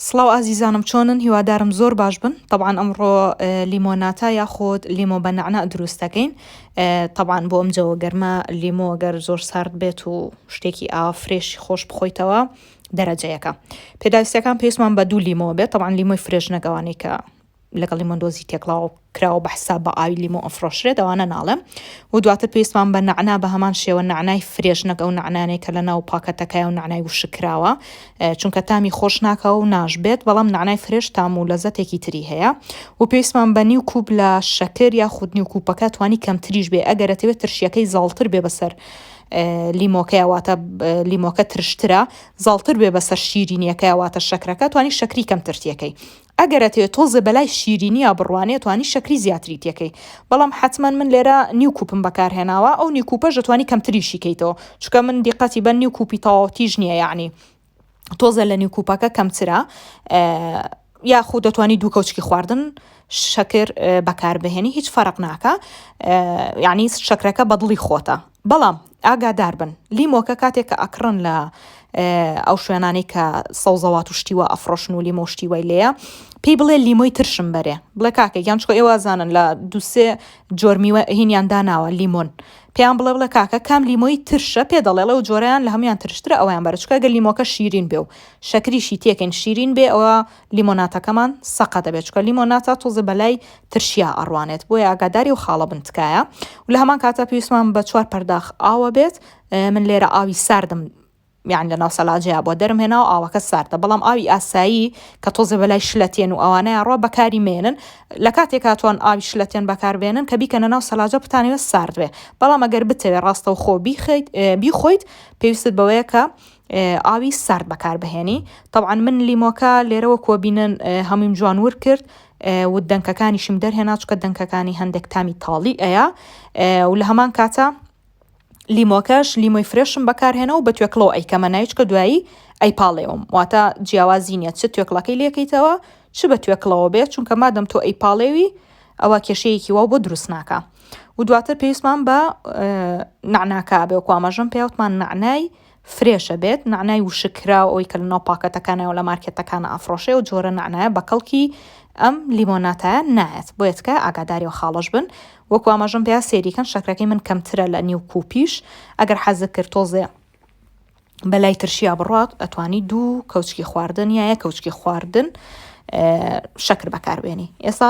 سڵاو ئازیزانم چۆنن هیوادارم زۆر باش بن طبعا ئەمڕۆ لیمۆناتا یاخۆد لیمۆ بە نەعنا دروست دەکەین طبعا بۆ ئەم جەوە گەرمە لیمۆ گەر زۆر سارد بێت و شتێکی ئاوا فرێشی خۆش بخۆیتەوە دەرەجەیەەکە پێداویستەکان پێستمان بە دوو لیمۆ بێت طبعا لیمۆی فرێش نەگەوانەی کە لەگەڵ لیمۆن دۆزی تێکڵاو کراوە بە حساب بە ئاوی لیمۆ ئەفرۆشرێت ئەوانە ناڵێم و دواتر پێویستمان بە نعنا بە هەمان شێوە نعنای فرێش نەک ئەو نعنانێک کە لە ناو پاکەتەکەی و نعنای وشکراوە چونکە تامی خۆش ناکە و ناش بێت بەڵام نعنای فرێش تام و لەزەتێکی تری هەیە و پێویستمان بە نیو کوب لە شەکر یا خود نیو کوپەکە توانی کەمتریش بێ ئەگەرەتەوێت ترشیەکەی زاڵتر بێ بەسەر لیمۆکەیەواتە لیمۆکە ترشترە زاڵتر بێ بەسەر شیرینیەکەیەواتە شەکرەکە توانی شەکری کەم ترتیەکەی ئەگەر ئەتەوێ تۆزێ بەلای شیرینیا بڕوانێ توانی شەکری زیاتری تێکەی بەڵام حەتمەن من لێرە نیو کوپم بەکار هێناوە ئەو نیو کوپەش ئەتوانی کەمتریشی کەیتەوە چونکە من دیقەتی بە نیو کوپی تەواوتیش نییە یعنی تۆزێ لە نیو کوپەکە کەمترە یاخود دەتوانی دوو کەوچکی خواردن شەکر بەکاربهێنی هیچ فەرق ناکە یعنی شەکرەکە بەدڵی خۆتە بەڵام ئاگادار بن لیمۆکە کاتێک کە ئەکڕن لە ئەو شوێنانەی کە سەوزەوات و شتیوە ئەفرۆشن و لیمۆ شتیوای لێە پێی بڵێ لیمۆی ترشم بەرێ بڵێ کاکە یان چۆ ئێوازانن لە دوسێ جۆرمیوە هینیان داناوە لیمۆن پێیان بڵێ بڵێ کاکە کام لیمۆی ترشە پێ دەڵێڵێ و جۆریان لە هەموان ترشترە ئەویان بەرچکە گەر لیمۆکە شیرین بێ و شەکریشی تێکن شیرین بێ ئەوە لیمۆناتەکەمان سەقە دەبێت چکە لیمۆناتە تۆزێ بەلای ترشیا ئەڕوانێت بۆیە ئاگاداری و خاڵە بن تکایە و لە هەمان کاتە پێویستمان بە چوار پەرداخ ئاوە بێت من لێرە ئاوی ساردم یان لە ناو سەلاجەیە بۆ دەرم هێنا و ئاوەکە ساردە بەڵام ئاوی ئاسایی کە تۆزێ بەلای شلەتێن و ئەوانەیە ڕۆ بەکاری مێنن لە کاتێک هاتوان ئاوی شلەتێن بەکاربێنن کە بیکەنە ناو سەلاجە بتانەوە ساردێ بەڵام ئەگەر بتەوێ ڕاستە و خۆ بیخیت بیخۆیت پێویستت بەوەیە کە ئاوی سارد بەکار بهێنی طبعا من لیمۆکە لێرەوە کۆبینن هەموویم جوان ور کرد و دەنکەکانیشم دەرهێنا چکە دەنکەکانی هەندێک تامی تاڵی ئەیە و لە هەمان کاتە لیمۆکەش لیمۆی فرێشم بەکارهێنا و بە توێکڵەوە ئەیکەمە نایچکە دوایی ئەی پاڵێوم واتە جیاوازی نیە چ توێکڵەکەی لەکەیتەوە چ بە توێکڵەوە بێت چونکە مادەم تۆ ئەی پاڵێوی ئەوە کێشەیەکی وا بۆ دروست ناکە و دواتر پێویستمان بە نعناکە بێ و کوامەژم پێوتمان نعنای فرێشە بێت، نەعنای وشک کراو ئەوەی کە لەناو پاکەتەکانایە و لە مارکێتەکانا ئەفڕۆشێ ئەو جۆرە نەعنایە بە کەڵکی ئەم لیمۆناتایە نایەت بۆیە تکایە ئاگاداری ئەو خاڵەش بن وەکو ئاماژەم پێا سێری کەن شەکرەکەی من کەمترە لە نیو کوپیش ئەگەر حەزت کرد تۆزێ بەلای ترشیا بڕات ئەتوانی دوو کەوچکی خواردن یایە کەوچکی خواردن شەکر بەکاربێنی ئێستا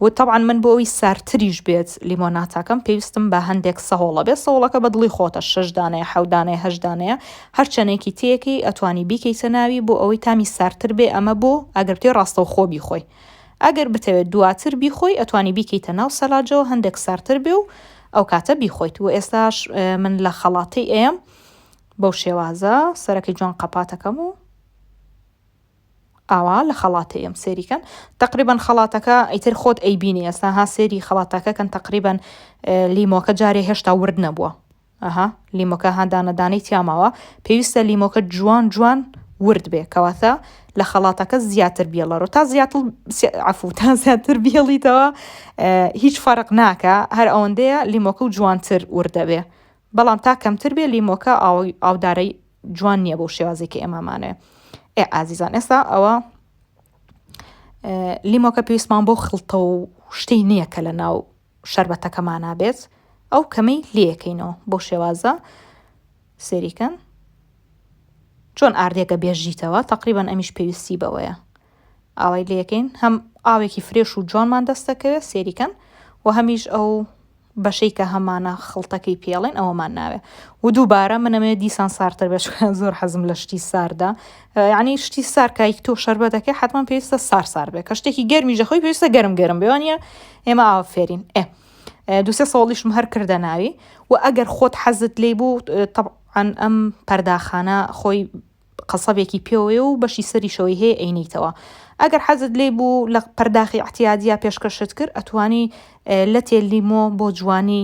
و تەبعەن من بۆ ئەوی سارتریش بێت لیمۆناتاکەم پێویستم بە هەندێک سەهۆڵە بێ سەوڵەکە بە دڵی خۆتە شش دانەیە حەو دانەیە هەشت دانەیە هەر چەنێکی تێکەی ئەتوانی بیکەیتە ناوی بۆ ئەوەی تامی سارتر بێ ئەمە بۆ ئەگەر بتەوێ ڕاستەوخۆ بیخۆی ئەگەر بتەوێ دواتر بیخۆی ئەتوانی بیکەیتە ناو سەلاجەوە هەندێک سارتر بێ و ئەو کاتە بیخۆیت و ئێستاش من لە خەڵاتی ئەم بەو شێوازە سەرەکەی جوان قەپاتەکەم و ئاوا لە خەڵاتە یەم سێری کەن تەقریبەن خەڵاتەکە ئیتر خۆت ئەیبینی ئێستا ها سێری خەڵاتەکە کەن تەقریبەن لیمۆکە جارێ هێشتا ورد نەبووە ئەها لیمۆکە هادانەدانەی تیاماوە پێویستە لیمۆکە جوان جوان ورد بێ کەواتە لە خەڵاتەکە زیاتر بێڵەرۆ تا زیاتر عفو تا زیاتر بێڵیتەوە هیچ فەرق ناکە هەر ئەوەندەیە لیمۆکە و جوانتر وردەبێ بەڵام تا کەمتر بێ لیمۆکە ئاودارەی جوان نییە بۆ شێوازی کە ئێمامانێ ئێ ئازیزان ئێستا ئەوە لیمۆکە پێویستمان بۆ خڵتە و شتەی نییە کە لە ناو شربەتەکەمانە بێت ئەو کەمەی لەکەینەوە بۆ شێوازە سێریکەن چۆن ئاردێکە بێژیتەوە تقریبان ئەمیش پێویستی بەوەیە ئاوای لێکەین هەم ئاوێکی فرێش و جوانمان دەست دەکەوێت سێریکەن و هەمیش ئەو بەشەی کە هەمانە خڵتەکەی پێڵێن ئەوەمان ناوێ و دووبارە منەمێ دیسان سارتر بێش زۆر حەزم لە شتی ساردا یعنی شتی سار کایک تۆ شەربە دەکە حتمما پێویستە سار سار بێ کە شتێکی گەرمی ژەخۆی پێویستە گەرم گەرم بێوانە ئێمە ئاوا فێرین ئێ دوسێ ساڵیشم هەر کردە ناوی و ئەگەر خۆت حەزت لی بوو طبعا ئەم پەرداخانە خۆی قەسەبێکی پێوەیە و بەشی سەریشەوەی هەیە ئەینێیتەوە ئەگەر حەزت لێی بوو لە پەرداخی عتیادیا پێشکەشت کرد ئەتوانی لەتێ لیمۆ بۆ جوانی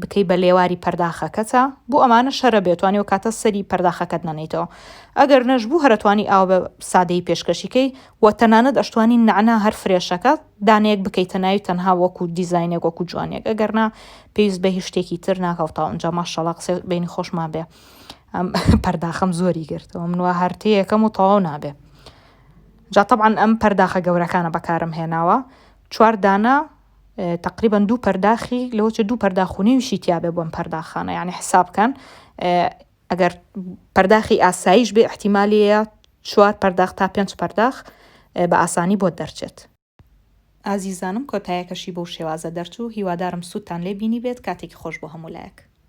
بکەی بە لێواری پەرداخەکەتە بۆ ئەمانە شەرە بێتوانی و کاتە سەری پەرداخەکەت نەنیتەوە ئەگەر نەش بوو هەرتوانی ئاو بە سادەی پێشکەشیکەی و تەنانەت ئەشتوانی نعنا هەر فرێشەکە دانەیەک بکەیتە ناوی تەنها وەکو دیزینێک وەکو جوانێک ئەگەرنا پێویست بە هیچ شتێکی تر ناکەوتەوە ئەنجا ماشەڵا قسە بینی خۆشمان بێ ئەم پەرداخەم زۆری گرتەوە من وا هەرتەیەکەم و تەواو نابێ جا طبعا ئەم پەرداخە گەورەکانە بەکارم هێناوە چوار دانە تقریبا دوو پەرداخی لەوچە دوو پەرداخونیویشی تیاابێ بۆم پەرداخانە یعنی حسابکەن ئەگەر پەرداخی ئاساییش بێ احتیمالەیە چوار پەرداخ تا پێنج پەرداخ بە ئاسانی بۆ دەرچێت. ئازیزانم کۆتایەکەشی بەو شێوازە دەرچوو هیوادارم سوودتان لێ بینی بێت کاتێکی خۆش بۆ هەموو لایەک.